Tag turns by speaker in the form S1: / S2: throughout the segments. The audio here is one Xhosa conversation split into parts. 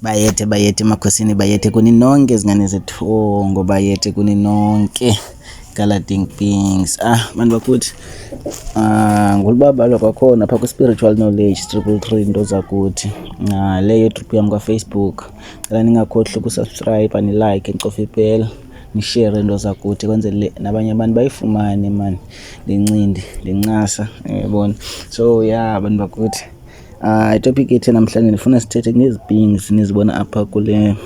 S1: Bayethe bayethe emakhosini bayethe kuni nonke zingane zethu oh, ngobayethe kuni nonke galading things ah bantu bakuthi ah ngulubabalwa kwakhona phaa kwi-spiritual knowledge triple three into zakuthi ah leyo trip yam kwafacebook cela ningakhohli ukusubscribe anilike ncofa ipela nishere into zakuthi kwenzele nabanye abantu bayifumane mani ndincindi ndincasa yabona so ya yeah, abantu bakuthi Uh, itopic ethe namhlanje ndifuna sithethe ngezipings nizibona apha kule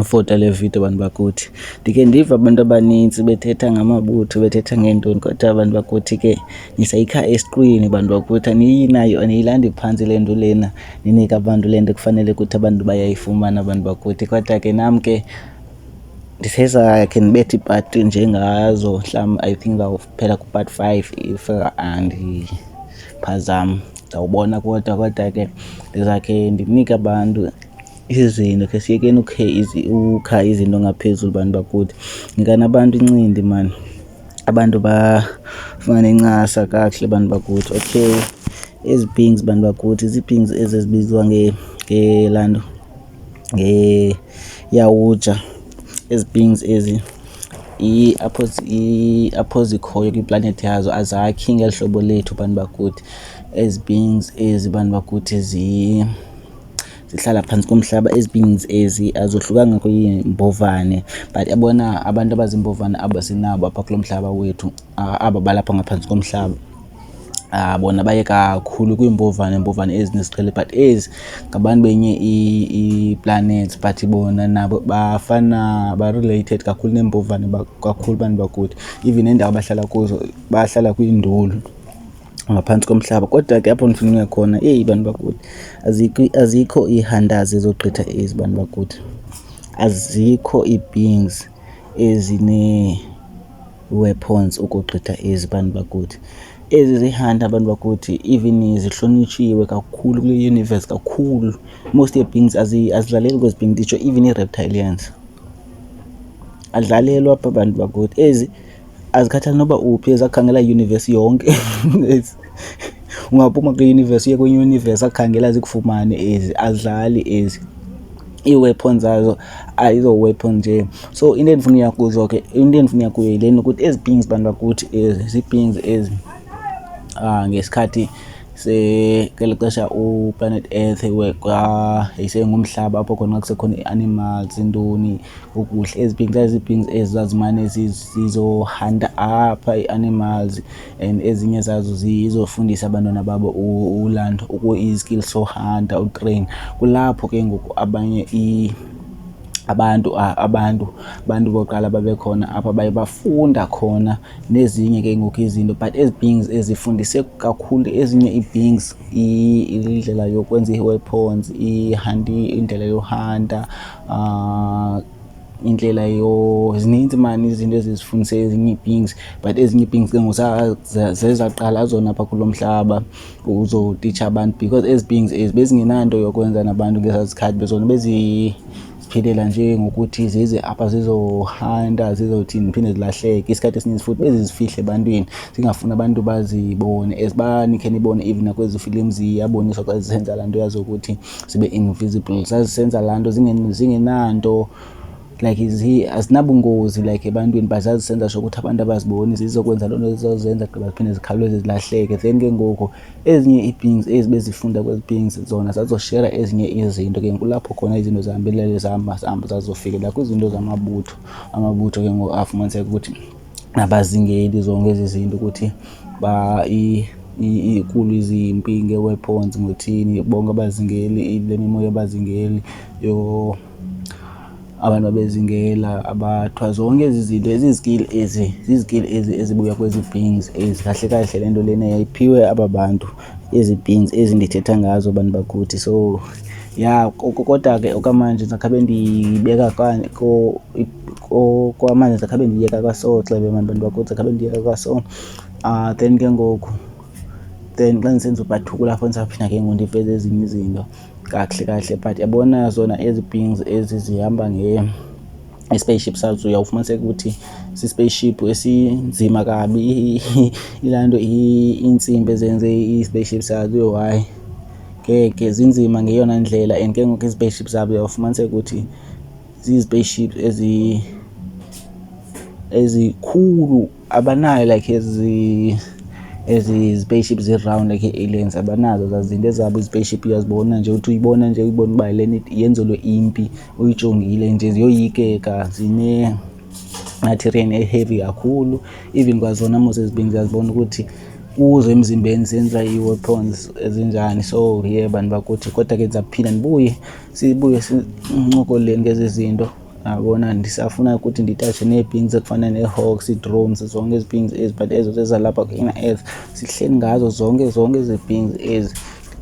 S1: fota le video bantu bakuthi ndike ndiva abantu abanintsi bethetha ngamabutho bethetha ngeentoni kodwa abantu bakuthi ke nisayikha esiqwini bantu bakuthi aniyinayo aniyilandi phantsi le nto lena ninika abantu le nto kufanele ukuthi abantu bayayifumana abantu bakuthi kodwa ke nam ke ndiseza khe ndibethe ipati njengazo mhlawumbi i think phela kupart five if andiphazam ndawubona kodwa kodwa ke ndizakhe ndinike abantu izinto khe siyekeni ukhe ukha izinto ngaphezulu bantu bakuthi nikani abantu incindi mani abantu bafumane incasa kakuhle bantu bakuthi okay ezi pings bantu bakuthi zii-pings ezi ezibizwa ngelanto Iyawutsha ezi pings ezi, apho apho zikhoyo kwiplanethi yazo azakhi ngeli hlobo lethu bantu bakuthi. Ezi pings ezi bantu bakuthi zihlala phantsi komhlaba. Ezi pings ezi azohlukanga kwiimbovane but bona abantu abaziimbovane aba sinabo apha kulo mhlaba wethu, aba balapha ngaphantsi komhlaba. Ah, bona baye kakhulu kwiimbovane iimbovane ezinesiqhele but ezi ngabantu benye ii-planets but bona nabo bafana ba-related kakhulu neembovane kakhulu abantu bakuthi even neendawo abahlala kuzo bahlala kwiinduli ngaphantsi komhlaba kodwa ke apho ndifuna uya khona eyi bantu bakuthi azikho azikho iihandazi ezogqitha ezi bantu bakuthi azikho ii-beings ezinee weapons ukugqitha ezi bantu bakuthi ezi zihanda abantu bakuthi even zihlonitshiwe kakhulu kule universe kakhulu most yebings azidlaleli kwezi bing nditsho even ii-reptilians adlalelwa apha bantu bakuthi ezi azikhathali noba uphi ezakhangela iuniverse yonke ungaphuma kwi-universe uye kwenye universe akhangela zikufumane ezi azidlali ezi ii-weapon zazo ayizo-weapon nje so into endifuna uya kuzo ke into endifuna uya kuyo yileni ukuthi ezi pings bantu bakuthi ezi zii-pings ezi um ngesikhathi ngeli xesha uplanet earth yayisengumhlaba apho khona kusekhona i-animals intoni ukudla ezi pings zazipings ezi zazimane zizohanta apha i-animals and ezinye zazo zizofundisa abantwana babo uland iskill so hunter utrain kulapho ke ngoku abanye abantu abantu abantu bokuqala babekhona apha baye bafunda khona nezinye ke ngoku izinto but ezi beings ezifundise kakhulu ezinye ii-beings indlela yokwenza ii-weapons ihandi indlela yohanta um ah, indlela yo zininzi mani izinto ezizifundise ezinye ii-beings but ezinye ii-beings ke ngozezaqala azona apha kulo mhlaba uzotitsha abantu because ezi beings ezi bezingenanto yokwenza nabantu ngezaa zikhathi bezona beziphilela nje ngokuthi zize apha zizohanta zizothini ziphinde zilahleke isikhathi esininzi futhi bezizifihle ebantwini zingafuni abantu bazibone as banikhe nibone even nakwezi filimu ziyaboniswa xa zisenza laa nto yazi ukuthi sibe invisible zazisenza laa nto zingenanto like azinabungozi like ebantwini but zazisenza sho ukuthi abantu abaziboni zizokwenza loo nto zizozenza gqiba ziphinde zikhawuleze zilahleke then ke ngoku ezinye ii-beings ezi bezifunda kwezi beings zona zazoshera ezinye izinto ke kulapho khona izinto zihambelele zihamba zihamba zazofikelela kwizinto zamabutho amabutho ke ngoku afumaniseka ukuthi nabazingeli zonke ezi zinto ukuthi ba ikulu izimpi nge-weapons ngothini bonke abazingeli le mimoya abazingeli yo abantu abezingela abathwa zonke ezi zinto ezizikili ezi zizikili ezi ezibuya kwezi beings ezi kahle kahle le nto lena yayiphiwe aba bantu ezi pins ezi ndithetha ngazo abantu bakuthi so ya kodwa ke okwamanje ndizakhabe ndiyibeka kwamanje ndizakhabe ndiyeka kwaso xebe mani bantu bakuthi ndizakhabe ndiyeka kwaso um ah, then ke ngoku then xa ndisenza ubhathukula fo ndisaphinda ke ngoku ndiveze ezinye izinto kakuhle kakuhle but yabona zona ezi pins ezi zihamba nge i-spaceship sazo uyawufumaniseka ukuthi si-spaceship esinzima kabi ilaa nto iintsimbi ezenze i-spaceship sazo yho hayi ngeke zinzima ngeyona ndlela and ke ngoku i-spaceship zabo uyawufumaniseka ukuthi zizi-spaceship ezi ezikhulu abanayo like ezi ezi spaceship zi-round like ii-aliens abanazo zazinto ezabo izipaceship uyazibona nje uthi uyibona nje uyibona uba le yenzelwe impi uyijongile nje ziyoyikeka zine materian eheavy kakhulu even kwazona mos ezibini ziyazibona ukuthi kuzo emzimbeni zenza ii-weapons ezinjani so ye yeah, bantu bakuthi kodwa ke ndizaphila ndibuye sibuye sincokoleni ngezi zinto yabona ndisafuna ukuthi nditatshe nee-pings ekufana nee-hawks ii-drones zonke ezi pings ezi but ezo zezalapha ku-inner earth sihleli ngazo zonke zonke ezi pings ezi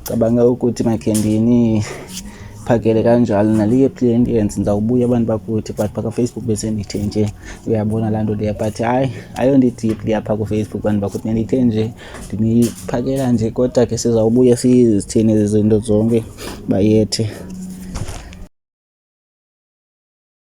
S1: ndicabanga ukuthi makhe ndiniphakele kanjalo naliye plentience ndizawubuya abantu bakuthi but phaa kafacebook besendithe nje uyabona laa nto leya but hayi ayondidipli apha kufacebook bantu bakuthi ndandithe nje Ndiniphakela nje kodwa ke sizawubuye sizithini ezi zinto zonke bayethe.